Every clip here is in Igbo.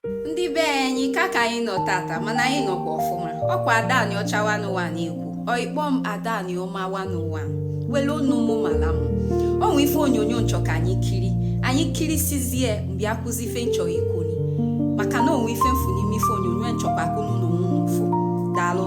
ndị be anyị ka ka anyị nọ tata mana anyị nọkwa ọfụma ọkwa Ada Aniọcha wanụwa na-ekwu ọ ị kpọ m Ada Aniọma wanụwa wele onu mụ mala m o nwe ife onyonyo n chọ ka anyị kiri anyị kirisizie mgbe akụzi ife n chọ ikwu ni maka na o nwe ife m fụ n'ime ife onyonyo n chọkwa ka unu na mụ fụ daalụ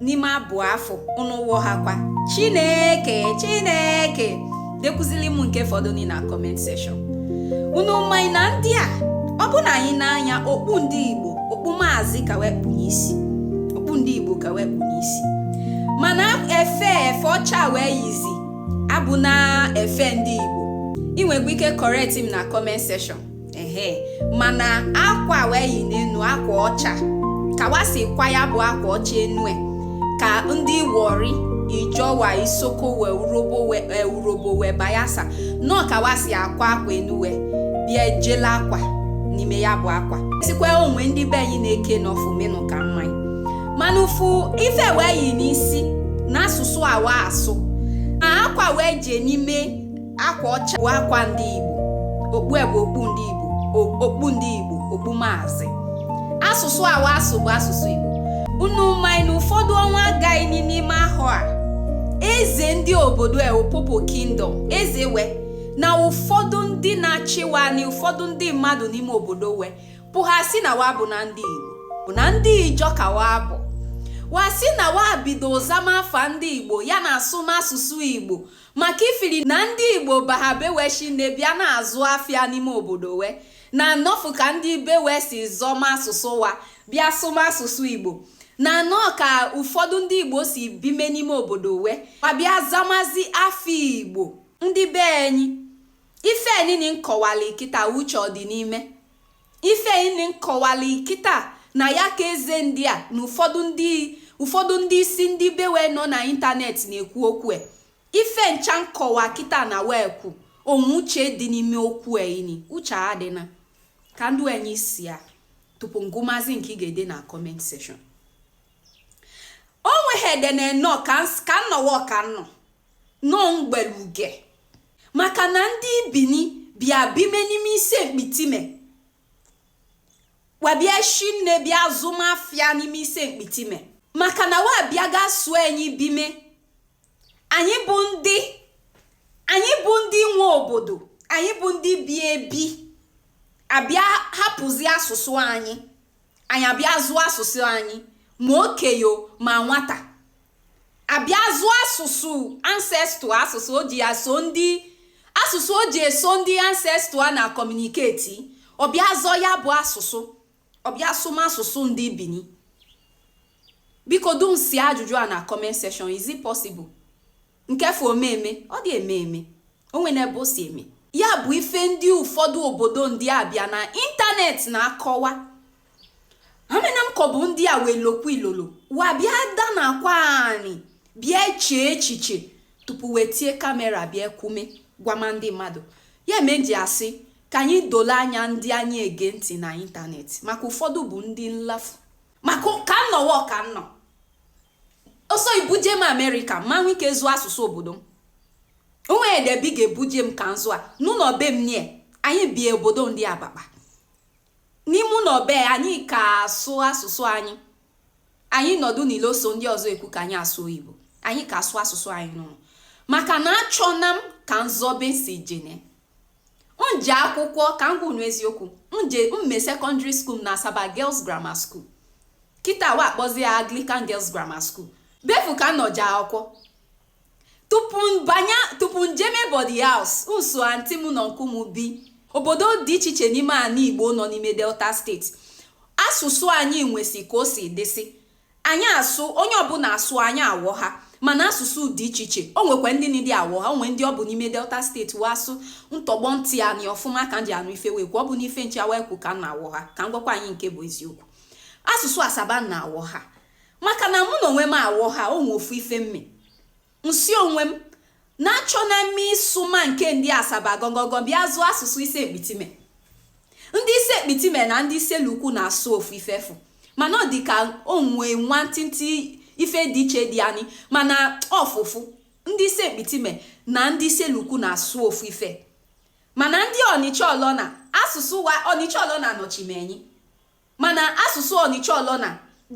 n'ime abụ afụ nụwa ha kwa chineke chineke dekwuzili m nke fọdụ ni na comment section unu maị na ndị a ọ bụ na anyị nee anya okpu ndị igbo okpu maazị ka we kpu n'isi okpu ndị igbo ka we kpu n'isi mana efe efe ọcha we yizi abụna efe ndị igbo ị nwekwa ike correct m na comment section ehe mana akwa we yi n'enu akwa ọcha ka wa si kwa ya bụ akwa ọcha enu e, ka ndị Warri Ijaw we Isoko we Urhobo we e, Urhobo we Bayelsa nọ ka wa si akwa akwa enu we bịa ejela akwa n'ime ya bụ akwa sikwa onwe ndị be anyị na-eke nọfụ mee nụ ka m maị mana ị fụ ife we yi n'isi na asụsụ a wa asụ na akwa we je n'ime akwa ọcha bụ akwa ndị Igbo okpu bụ okpu ndị Igbo okpu ndị Igbo okpu maazị asụsụ a wa asụ bụ asụsụ Igbo unu maị na ụfọdụ ọnwa gaa nị n'ime ahọ a eze ndị obodo Opobo Kingdom eze we na ụfọdụ ndị na-achị wa nị ụfọdụ ndị mmadụ n'ime obodo we pụha sị na wa abụna ndị Igbo bụ na ndị Ijaw ka wa bụ wa sị na wa bido zama afa ndị Igbo ya na asụma asụsụ Igbo maka ifili na ndị igbo baha be we shinne bịa na-azụ afịa n'ime obodo we na nọfụ ka ndị be we si zọma asụsụ wa bịa sụma asụsụ igbo na nọ ka ụfọdụ ndị igbo si bime n'ime obodo we ma bịa zamazi afa igbo ndị be enyi ife enini n kọwali kịta uche ọ dị n'ime Ife ini n kọwali kịta na ya ka eze ndị a na ụfọdụ ndị ụfọdụ ndị isi ndị be we nọ na internet na-ekwu okwu e. Ife ncha n kọwa kịta na we kwu, o nwe uche dị n'ime okwu e ini, uche adịna. Ka n denyesịa tupu n gụmazi nke ị ga-ede na comment section. O nweghị ede na enọ ka nnọwa ọka nnọ. nọ mgbeluge maka na ndị ibini bịa bime n'ime Isele Mkpitime wa bịa shinne bịa zụma afịa n'ime Isele Mkpitime maka na wa bịa ga-eso anyị bime anyị bụ ndị anyị bụ ndị nwe obodo anyị bụ ndị bi ebi a bịa hapụzi asụsụ anyị anyị abịa zọ asụsụ anyị ma okenye ma nwata a bịa zọ asụsụ ancestor asụsụ o ji ya so ndị asụsụ o ji eso ndị ancestor a na communicate ọ bịa zọ ya bụ asụsụ ọ bịa sụma asụsụ ndị bini biko dum si ajụjụ a na comment section is it possible nke fụ o me eme ọ dị eme eme o nwene ebe o si eme ya bụ ife ndị ụfọdụ obodo ndị a bịa na ịntanetị na-akọwa amana m ka ọ bụ ndị a wee lokwu ilolo wa bịa da na akwa anyị bịa chee echiche tupu wee tie kamera bịa kwume gwama ndị mmadụ ya me e ji asị ka anyị dole anya ndị anyị ege ntị na ịntanetị maka ụfọdụ bụ ndị nlafu maka ka m nọwa ka m nọ ọ sọ ibuje m amerịka ma nwe ike zọ asụsụ obodo m o nwedị ebe ị ga-ebuje m ka m zọ a n'ụlọ be anyị anyị bi obodo ndị abakpa N'ime ụlọ be anyị ka asụ asụsụ anyị. Anyị nọdụ n'ilo so ndị ọzọ ekwu ka anyị asụ oyibo. Anyị ka asụ asụsụ anyị n'ụlọ. Maka na achọna m ka m zọ ebe m si jene. M je akwụkwọ ka m gwa unu eziokwu. M je mme secondary school na Asaba Girls Grammar School. Kịta wa akpọzi ya Anglican Girls Grammar School. Ebe fụ ka m nọ je akwụkwọ. tupu m banye tupu m jeme boarding house m so aunty m na uncle m bi obodo dị iche iche n'ime ala igbo nọ n'ime delta state asụsụ anyị nwesi ka o si dịsị anyị asụ onye ọbụla asụ anyị awọha mana asụsụ dị iche iche o nwekwa ndị na-adị awọha o nwe ndị ọ bụ n'ime delta state wa asụ m tọgbọ ntị anị ọfụma ka m ji anụ ife wa ekwu ọ bụna ife ncha wa ekwu ka m na-awọha ka m gwakwa anyị nke bụ eziokwu asụsụ asaba na awọha maka na mụ na onwe m awọha o nwe ofu ife m me m sị onwe m na achọna m ịsụma nke ndị asaba gọgọgọ bịa zọ asụsụ ise mkpitime ndị ise mkpitime na ndị issele uku na-asụ ofu ife fụ mana ọ dị ka o nwe nwantịntị ife dị iche dị anyị mana ọfụfụ ndị ise mkpitime na ndị issele uku na-asụ ofu ife mana ndị ọnịcha ọlọna asụsụ wa ọnịcha ọlọna nọchime anyị Mana asụsụ Ọnịcha-Ọlọna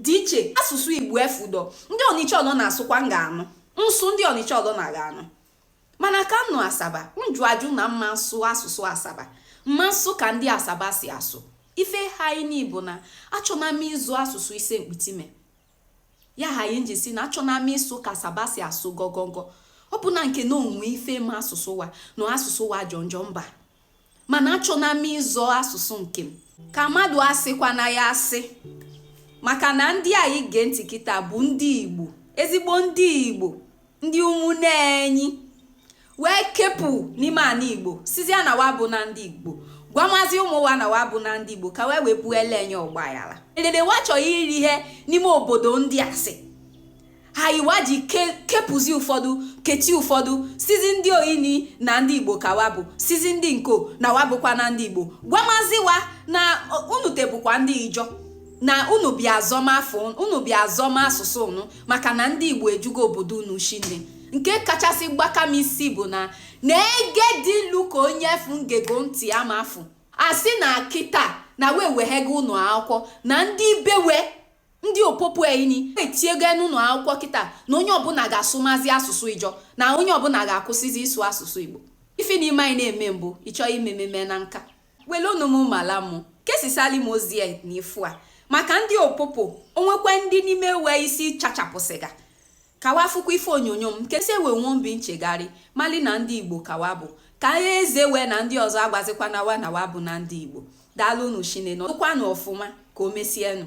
dị iche asụsụ Igbo efudọ. Ndị Ọnịcha-Ọlọna asụkwa m ga-anụ. M sụ ndị Ọnịcha-Ọlọna ga-anụ. Mana ka m nọ Asaba, m jụ ajụ na m ma nsụ asụsụ Asaba. M ma nsụ ka ndị Asaba si asụ. Ife haị nị bụ na achọna m ịzọ asụsụ Ise Mkpitime. ya haị m ji sị na achọna m ịsụ ka asaba si asụ gọgọgọ ọ bụna nke na o nwe ife me asụsụ wa na asụsụ wa jọ njọ mba mana achọna m ịzọ asụsụ nke m ka mmadụ asịkwana ya asị maka na ndị anyị gee ntị kịta bụ ndị igbo ezigbo ndị igbo ndị ụmụnne anyị wee kepụ n'ime ana igbo sizia na wa abụna ndị igbo gwamazị ụmụ wa na wa abụna ndị igbo ka wee wee pụọ ele enye ọgbaghara edede wa chọrọ iri ihe n'ime obodo ndị asị ha iwa ji ke- kepụzi ụfọdụ kechi ụfọdụ sizi ndị oyini na ndị igbo ka wa bụ sizi ndị nko na wa abụkwana ndị igbo gwamazị wa na ọ- unu tebụkwa ndị ijọ na unu bịa azọm afọ unu bịa azọma asụsụ unu maka na ndị Igbo ejugo obodo unu shinne nke kachasị gbaka m isi bụ na na ege dị ilu ka onye efu ngego ntị ya ma afụ asị na kịta na wee weghego ụnọ akwụkwọ na ndị bewe ndị opopo etinyego n'ụlọ akwụkwọ kịta na onye ọbụla ga-asụmazi asụsụ ijọ na onye ọbụla ga-akwụsịzi ịsụ asụsụ igbo ife na ime anyị na-eme mbụ ịchọọ imememe na nka Melụnụ m amala mụ, kesisali m ozi a n'ifu a. Maka ndị opopo, o nwekwa ndị n'ime wee isi chachapụsịga. Ka wa fụkwa ife onyonyo m, kesi e wee nwee obi nchegharị, mali na ndị Igbo ka wa bụ. Ka agha eze wee na ndị ọzọ agwazikwana wa na wa abụna ndị Igbo. Daalụnụ shinne, nọdụkwanụ ọfụma, ka o mesienụ.